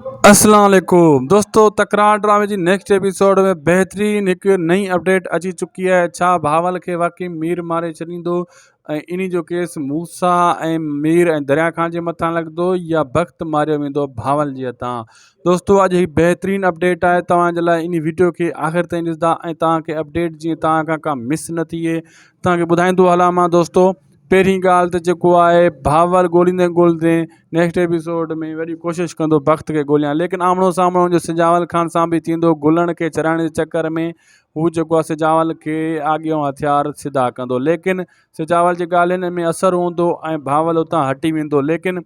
اسلام عليڪم دوستو تڪرار ڊرامي جي نيڪسٽ ايپيسوڊ ۾ بهترين هڪ نئين اپڊيٽ اچي چڪي آهي ڇا بهاول کي واقعي مير ماري ڇڏيندو ۽ ان جو ڪيس موسا ۽ مير ۽ دريا خان جي مٿان لڳندو يا بخت ماريو ويندو بهاول جي هٿان دوستو اڄ هي بهترين اپڊيٽ آهي توهان جي لاء ان ويڊيو کي آخر تائين ڏسندا ۽ توهان کي اپڊيٽ جيئن توهان کان ڪا مس نه ٿئي توهان کي ٻڌائيندو هلان مان دوستو پهرين ڳالهه ته جيڪو آهي ڀاوَر ڳوليندي ڳوليندي نيڪسٽ ايپيسوڊ ۾ وڏي ڪوشش ڪندو بخت کي ڳوليان ليڪن آمڻو سامڻو جو سجاول خان سان به ٿيندو گلڻ کي ڇڏائڻ جي چڪر ۾ هو جيڪو آهي سجاول کي آڳيون هٿيار سڌا ڪندو ليڪن سجاول جي ڳالهين ۾ اثر هوندو ۽ ڀاول اتان هٽي ويندو ليڪن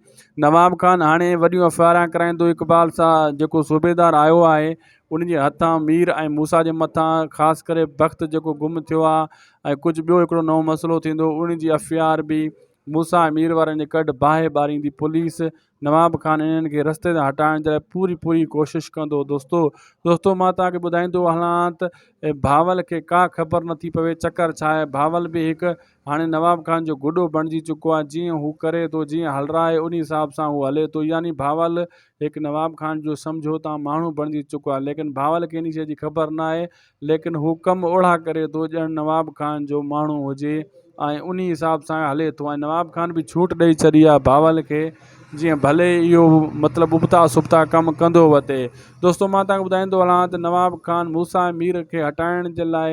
نواب خان هاڻي وڏيون ايف آء آر ڪرائيندو اقبال سان جيڪو صوبيدار آيو آهي ان جي هٿان مير ۽ موسيٰ جي مٿان خاص ڪري بخت جيڪو گم ٿيو آهي ۽ ڪجهه ٻيو هڪڙو نئون مسئلو ٿيندو ان جي ايف اي آر به موسيٰ ۽ مير وارن جي ڪڍ باهه ٻاريندي پوليس نواب کان انهن کي رستي تان هٽائڻ جي لاء پوري پوري ڪوشش ڪندو دوستو دوستو مان توهان کي ٻڌائيندو هلان ته بهاول کي ڪا خبر نٿي پوي چڪر ڇا آهي بهاول به هڪ هاڻي نواب خان جو گڏو بڻجي چڪو آهي جيئن هو ڪري ٿو جيئن هلرائي ان حساب سان هو هلي ٿو يعني بهاول هڪ نواب خان جو سمجهو تان ماڻهو بڻجي چڪو آهي ليڪن بهاول کي ان شيء جي خبر ناهي ليڪن هو ڪم اوڙاهه ڪري ٿو ڄڻ نواب خان جو ماڻهو هجي ۽ انهي حساب سان هلي ٿو ۽ نواب خان به ڇوٽ ڏئي ڇڏي آهي بهاول کي جيئن ڀلي اهو مطلب ابتا سبتا ڪم ڪندو وتي دوستو مان توهان کي ٻڌائيندو هلان ته نواب خان موسيٰ مير کي هٽائڻ جي لاء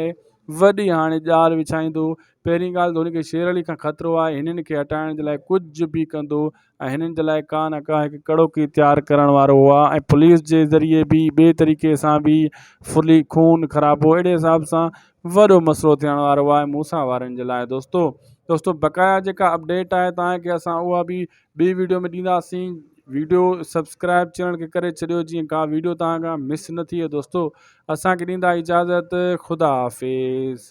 وڏي هاڻي ڄار وڇائيندو پهرين ڳالهه ته هن کي شير علي کان خطرو آهي هنن کي هٽائڻ جي لاء ڪجهه به ڪندو ۽ هنن جي لاء ڪا نه ڪا هڪ ڪڙوڪي تيار ڪرڻ وارو هو ها ۽ پوليس جي ذريعي به ٻئي طريقي سان به ڦرلي خون خرابو اهڙي حساب سان وڏو مسئلو ٿيڻ وارو هو ها موسيٰ وارن جي لاء دوستو دوستو بقايا جيڪا اپڊيٽ آهي تاهي کي اسان اها به ٻي ويڊيو ۾ ڏينداسين ويڊيو سبسڪرائب چينل کي ڪري ڇڏيو جيئن ڪا ويڊيو تاهان کان مس نه ٿئي دوستو اسان کي ڏيندا اجازت خدا حافظ